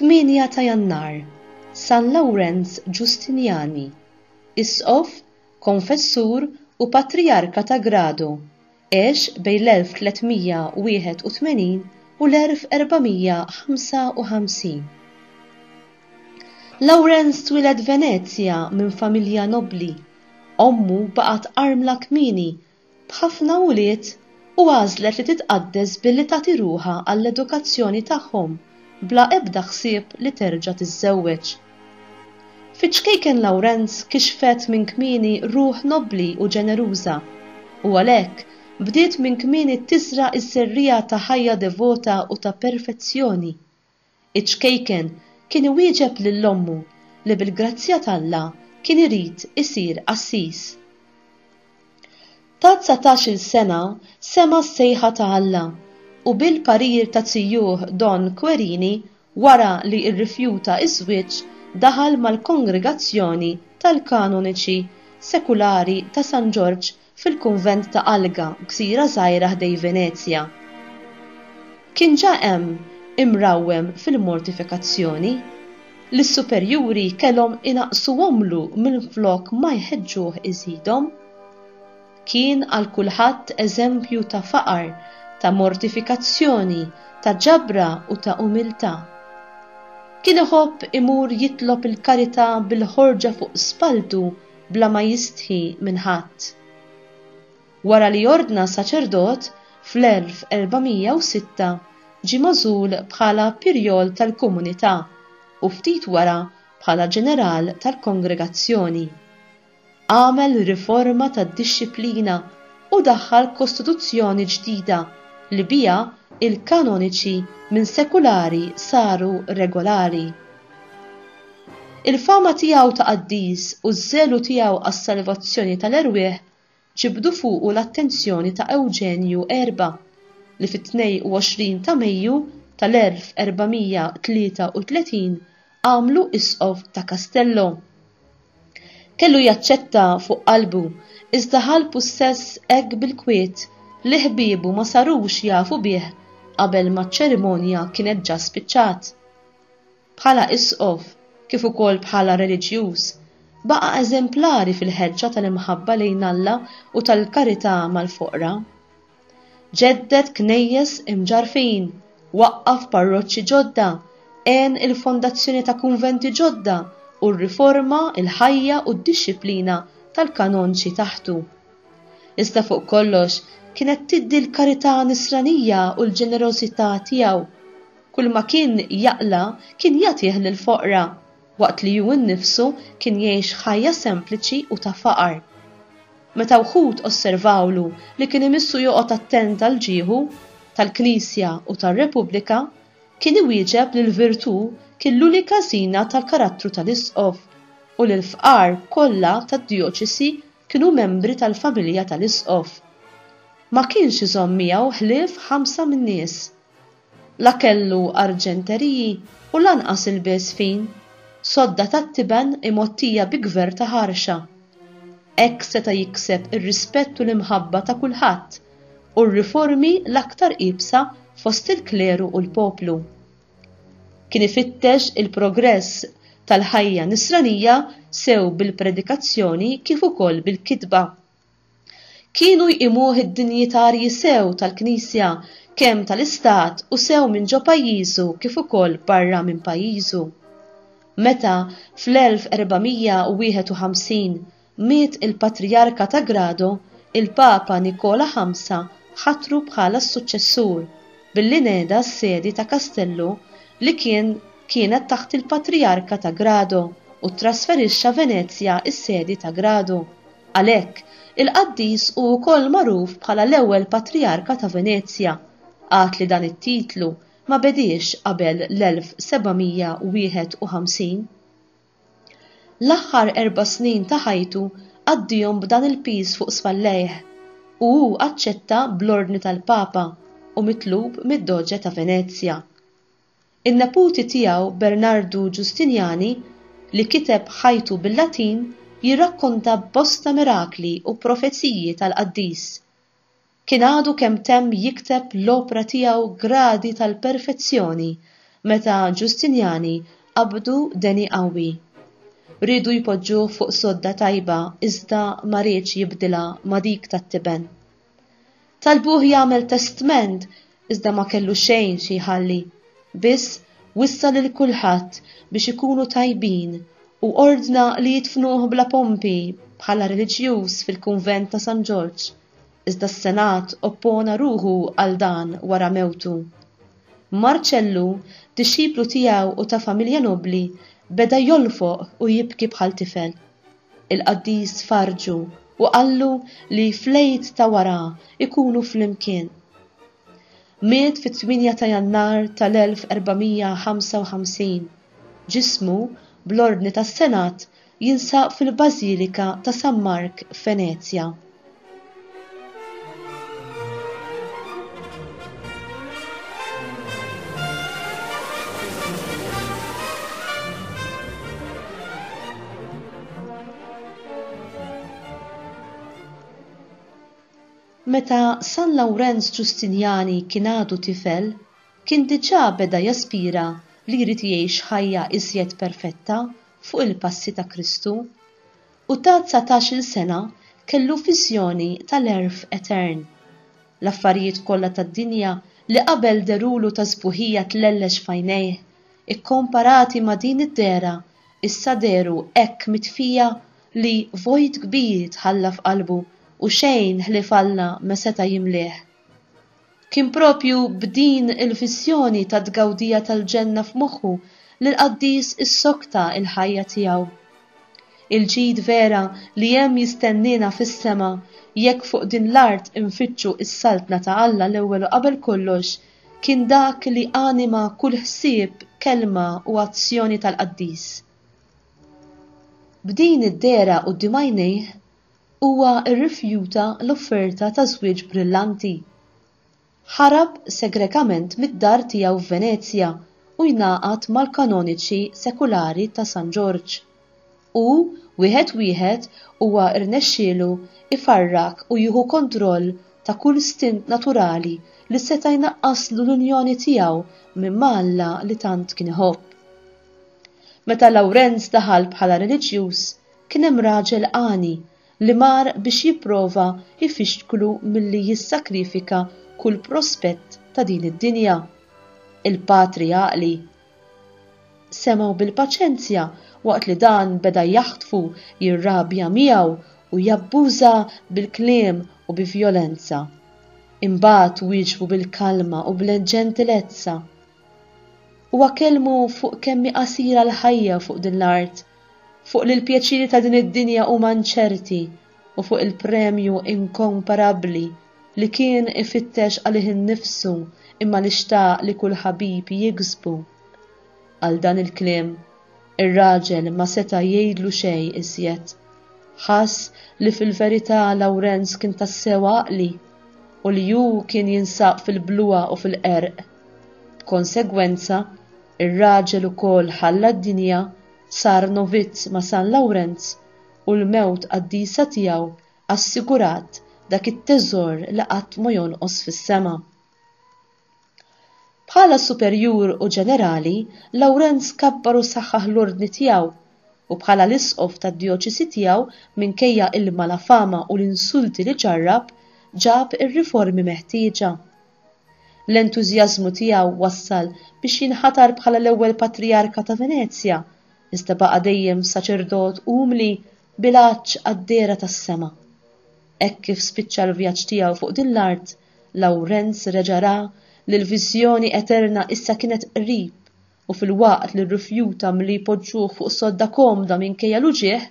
8 ta' Jannar, San Lawrenz Ġustinjani, Isqof, Konfessur u Patrijarka ta' Grado, Għex bejn l-1381 u l-1455. Lawrenz twieled Venezja minn familja nobbli, ommu baqgħet armla kmieni b'ħafna ulied u għażlet li titqaddes billi tagħti ruħha għall-edukazzjoni tagħhom bla ebda ħsieb li terġa' tiżżewweġ. Fiċ-ċkejken Lawrenz kixfet minn kmieni ruħ nobbli u ġeneruża, u għalhekk, bdiet minn kmieni tiżra' ż-żerriegħa ta' ħajja devota u ta' perfezzjoni. Iċ-ċkejken kien iwieġeb lil ommu li bil-grazzja t'Alla kien irid isir qassis. Ta' dsatax-il sena sema' s-sejħa ta' Alla u bil-parir ta' zijuh Don Querini Wara li rrifjuta ż-żwieġ, daħal mal-Kongregazzjoni tal-Kanoniċi Sekulari ta' San Ġorġ fil-kunvent ta' Alga, gżira żgħira ħdej Venezja. Kien ġa hemm imrawwem fil-mortifikazzjoni, li s-superjuri kellhom inaqqsuhomlu minflok ma jħeġġuh iżidhom. Kien għal kulħadd eżempju ta' faqar, ta' mortifikazzjoni, ta' ġabra u ta' umiltà. Kien iħobb imur jitlob il-karità bil-ħorġa fuq spalltu bla ma jistħi minn ħadd. Wara li ordna saċerdot fl-1406 ġie magħżul bħala Pirjol tal-Komunità u ftit wara bħala Ġeneral tal-Kongregazzjoni. għamel riforma tad-dixxiplina u daħħal kostituzzjoni ġdida li biha l-kanoniċi minn sekulari saru regolari. Il-fama tiegħu ta' qaddis u ż-żelu tiegħu għas-salvazzjoni tal-erwieħ ġibdu fuqu l-attenzjoni ta' Ewġenju Erba, li fit-22 ta' Mejju tal-1433 għamlu Isqof ta' Castello. Kellu jaċċetta fuq qalbu, iżda ħa l-pussess hekk bil-kwiet li ħbiebu ma sarux jafu bih qabel ma ċ-ċerimonja kienet ġa spiċċat. bħala Isqof kif ukoll bħala reliġjuż, baqa' eżemplari fil-ħeġġa tal-imħabba lejn Alla u tal-karità mal-foqra. Ġedded knejjes imġarrfin, waqqaf parroċċi ġodda, għen il-fondazzjoni ta' kunventi ġodda u rriforma l-ħajja u d-dixxiplina tal-kanonċi taħtu. Iżda fuq kollox kienet tiddi l-karità nisranija u l-ġenerożità tiegħu. Kulma kien jaqla' kien jagħtih lill-foqra, waqt li hu nnifsu kien jgħix ħajja sempliċi u ta' faqar. Meta wħud osservawlu li kien imissu joqgħod attent għall-ġieħu, tal-Knisja u tar-Repubblika, kien iwieġeb li l-virtù kien l-unika żina tal-karattru tal-Isqof u li l-fqar kollha tad-djoċesi kienu membri tal-familja tal-Isqof. Ma kienx iżomm miegħu ħlief ħamsa min-nies. La kellu arġenteriji u lanqas ilbies fin, sodda tat-tiben imgħottija bi gverr ta' ħarxa. Hekk seta' jikseb ir-rispett u l-imħabba ta' kulħadd u r-riformi l-aktar iebsa fost il-kleru u l-poplu. Kien ifittex il-progress tal-ħajja nisranija sew bil-predikazzjoni kif ukoll bil-kitba. Kienu jqimuh id-dinjitarji sew tal-Knisja, kemm tal-Istat u sew minn ġo pajjiżu kif ukoll barra minn pajjiżu. Meta, fl-1451, miet il-Patrijarka ta' Grado, il-Papa Nikola Ħamsa ħatru bħala s-suċċessur, billi neda s-sedi ta' Kastellu li kien kienet taħt il-Patrijarka ta' Grado u ttrasferixxa Venezja s-sedi ta' Grado. Għalhekk, il-qaddis hu wkoll magħruf bħala l-ewwel patrijarka ta' Venezja, għad li dan it-titlu ma bediex qabel l-1751. L-aħħar erba' snin ta' ħajtu qaddihom b'dan il-piż fuq spallejh, u hu aċċetta bl-ordni tal-Papa u mitlub mid-Doge ta' Venezja. In-neputi tiegħu Bernardu Ġustinjani, li kiteb ħajtu bil-Latin, jirrakkonta bosta mirakli u profeziji tal-qaddis. Kien għadu kemm temm jikteb l-opra tiegħu Gradi tal-Perfezzjoni meta Ġustinjani qabdu deni qawwi. Riedu jpoġġuh fuq sodda tajba iżda ma riedx jibdilha ma' dik tat-tiben. Talbuh jagħmel testment iżda ma kellu xejn xi jħalli, biss wissa lil kulħadd biex ikunu tajbin u ordna li jidfnuh bla pompi bħala reliġjuż fil-kunvent ta' San Ġorġ, iżda s-Senat oppona ruħu għal dan wara mewtu. Marċellu, dixxiplu tiegħu u ta' familja nobbli, beda jolfoq u jibki bħal tifel. il-qaddis farrġu u qallu li fl-Għid ta' wara jkunu flimkien. Miet fit-8 ta' Jannar tal-1455. Ġismu, bl-ordni tas-Senat, jinsab fil-Bażilika ta' San Mark f'Venezja. Meta San Lawrenz Ġustinjani kien għadu tifel, kien diġà beda jaspira li jrid jgħix ħajja iżjed perfetta fuq il-passi ta' Kristu. U ta' dsatax-il sena kellu viżjoni tal-għerf etern. L-affarijiet kollha tad-dinja li qabel dherulu ta' sbuħija tlellex f'għajnejh, ikkomparati ma' din id-dehra, issa dehru hekk mitfija li vojt kbir tħalla f'qalbu u xejn ħlief Alla ma seta' jimlieh. Kien proprju b'din il-viżjoni tat-tgawdija tal-ġenna f'moħħu li l-qaddis issokta l-ħajja tiegħu. Il-ġid vera li hemm jistenniena fis-sema jekk fuq din l-art infittxu s-Saltna ta' Alla l-ewwel u qabel kollox kien dak li anima kull ħsieb, kelma u azzjoni tal-qaddis. B'din id-dehra quddiem għajnejh, Huwa rrifjuta l-offerta ta' żwieġ brillanti. Ħarab segrekament mid-dar tiegħu f'Venezja u jnagħqad mal-kanoniċi sekulari ta' San Ġorġ. U, wieħed wieħed, huwa rnexxielu jfarrak u jieħu kontroll ta' kull stint naturali li seta' jnaqqaslu l-unjoni tiegħu ma' Alla li tant kien iħobb. Meta Lawrenz daħal bħala reliġjuż, Kien hemm raġel għani li mar biex jipprova jfixklu milli jissakrifika kull prospett ta' din id-dinja. Il-patri għaqli semgħu bil-paċenzja waqt li dan beda jaħtfu, jirrabja miegħu u jabbuża bil-kliem u bi vjolenza. Imbagħad wieġbu bil-kalma u bl-ġentilezza. Huwa kellmu fuq kemm hi qasira l-ħajja fuq din l-art, fuq li l-pjaċiri ta' din id-dinja huma inċerti u fuq il-premju inkomparabbli li kien ifittex għalih innifsu imma li xtaq li kull ħabib jiksbu. Għal dan il-kliem, ir-raġel ma seta' jgħidlu xejn iżjed. Ħass li fil-verità Lawrenz kien tassew għaqli u li hu kien jinsab fil-bluha u fil-qerq. B'konsegwenza, ir-raġel ukoll ħalla d-dinja, sar novizz ma' San Lawrenz, u l-mewt qaddisa tiegħu assigurat dak it-teżor li qatt ma jonqos fis-sema. Bħala superjur u ġenerali, Lawrenz kabbar u saħħaħ l-ordni tiegħu, u bħala l-isqof tad-djoċesi tiegħu, minkejja il-malafama u l-insulti li ġarrab, ġab ir-riformi meħtieġa. L-entużjażmu tiegħu wassal biex jinħatar bħala l-ewwel patrijarka ta' Venezja, iżda baqa' dejjem saċerdot umli bil-għatx għad-dehra tas-sema. Hekk kif spiċċa l-vjaġġ tiegħu fuq din l-art, Lawrenz reġa' ra li l-viżjoni eterna issa kienet qrib u filwaqt li rrifjuta milli jpoġġuh fuq sodda komda minkejja l-uġigħ,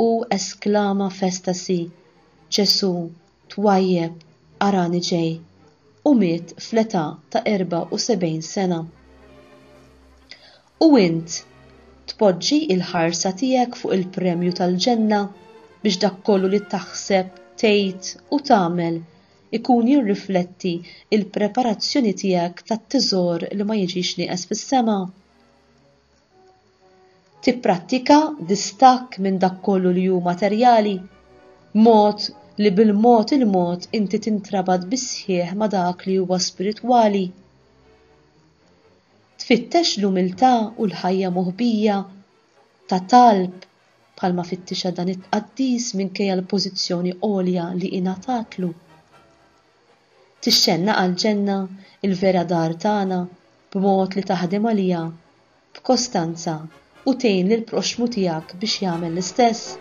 u esklama f'estasi, Ġesù, twajjeb, arani ġej! u miet fl-età ta' 74 sena. U int, tpoġġi l-ħarsa tiegħek fuq il-premju tal-Ġenna biex dak kollu li taħseb, tgħid u tagħmel ikun jirrifletti l-preparazzjoni tiegħek tat-teżor li ma jiġix nieqes fis-sema? Tipprattika distakk minn dak kollu li hu materjali, b'mod li bil-mod il-mod inti tintrabat bis-sħiħ ma' dak li huwa spiritwali. Tfittex l-umiltà u l-ħajja moħbija, ta' talb, bħalma fittixha dan it-tqaddis minkejja l-pożizzjoni għolja li ingħatatlu. Tixxennaq għall-ġenna, il-vera dar tagħna, b'mod li taħdem għaliha b'kostanza u tgħin lill-proxxmu tiegħek biex jagħmel l-istess?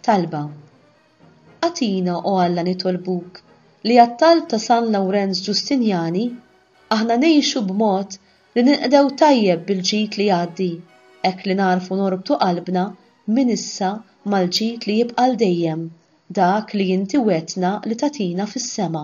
Talba. Agħtina, o Alla, nitolbuk, li għat-talb ta' San Lawrenz Ġustinjani, aħna ngħixu b'mod li ninqdew tajjeb bil-ġid li jgħaddi, hekk li nagħrfu norbtu qalbna minn issa mal-ġid li jibqa' 'l dejjem, dak li inti wegħdtna li tagħtina fis-sema.